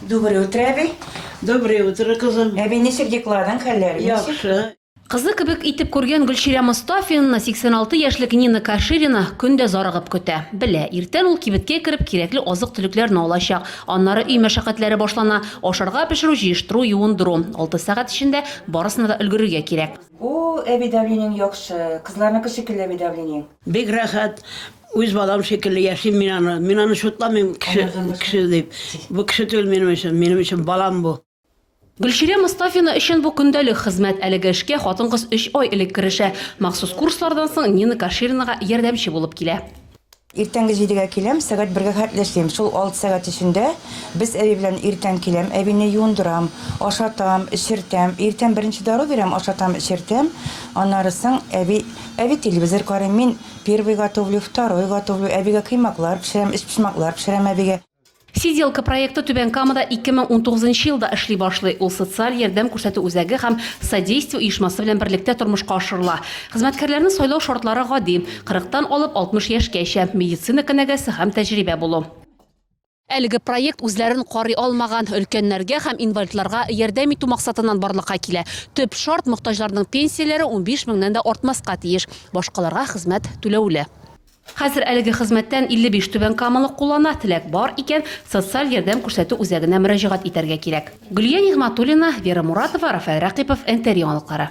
Доброе утро, әби. Доброе утро, кызым. Әби, ничек декладың, хәлләр? Яхшы. Кызы кебек итеп күргән Гөлчирә Мостафинаны 86 яшьлек Нина Каширина көн дә зарыгып көтә. Белә, иртән ул кибеткә кереп кирәкле азык-төлекләрне алачак. Аннары өй мәшәкатьләре башлана, ашарга пешерү, җыештыру, юындыру. Алты сәгать эчендә барысына да өлгерергә кирәк. О, әби, давлениең яхшы. Кызларныкы шикелле әби давлениең. Бик рәхәт. Үз балам шикелле яшим мин аны. Мин аны шутламыйм, кеше, кеше дип. Бу кеше түгел минем өчен, минем өчен балам бу. Гөлчирә Мостафина өчен бу көндәлек хезмәт. Әлеге эшкә хатын-кыз өч ай элек керешә. Махсус курслардан соң Нина Каширинага ярдәмче булып килә. Иртәнге җидегә киләм, сәгать бергә хәтле эшлим. Шул алты сәгать эчендә без әби белән иртән киләм, әбине юындырам, ашатам, эчертәм. Иртән беренче дару бирәм, ашатам, эчертәм. Аннары соң әби, әби телевизор карый, мин Первый готовлю, второй готовлю, әбигә коймаклар пешерәм, өчпочмаклар пешерәм әбигә. Сиделка проекты Түбән Камада 2019 нчы елда эшли башлый. Ул социаль ярдәм күрсәтү үзәге һәм Содействие оешмасы белән берлектә тормышка ашырыла. Хезмәткәрләрне сайлау шартлары гади, 40 тан алып 60 яшькәчә, медицина кенәгәсе һәм тәҗрибә булу. Әлеге проект үзләрен карый алмаган өлкәннәргә һәм инвалидларга ярдәм итү максатыннан барлыкка килә. Төп шарт, мохтаҗларның пенсияләре унбиш меңнән дә артмаска тиеш. Башкаларга хезмәт түләүле. Хәзер әлеге хезмәттән 55 түбәнкамалы куллана, теләк бар икән, социаль ярдәм күрсәтү үзәгенә мөрәҗәгать итәргә кирәк. Гөлия Нигъмәтуллина, Вера Муратова, Рафаэль Рәкыйпов, НТР яңалыклары.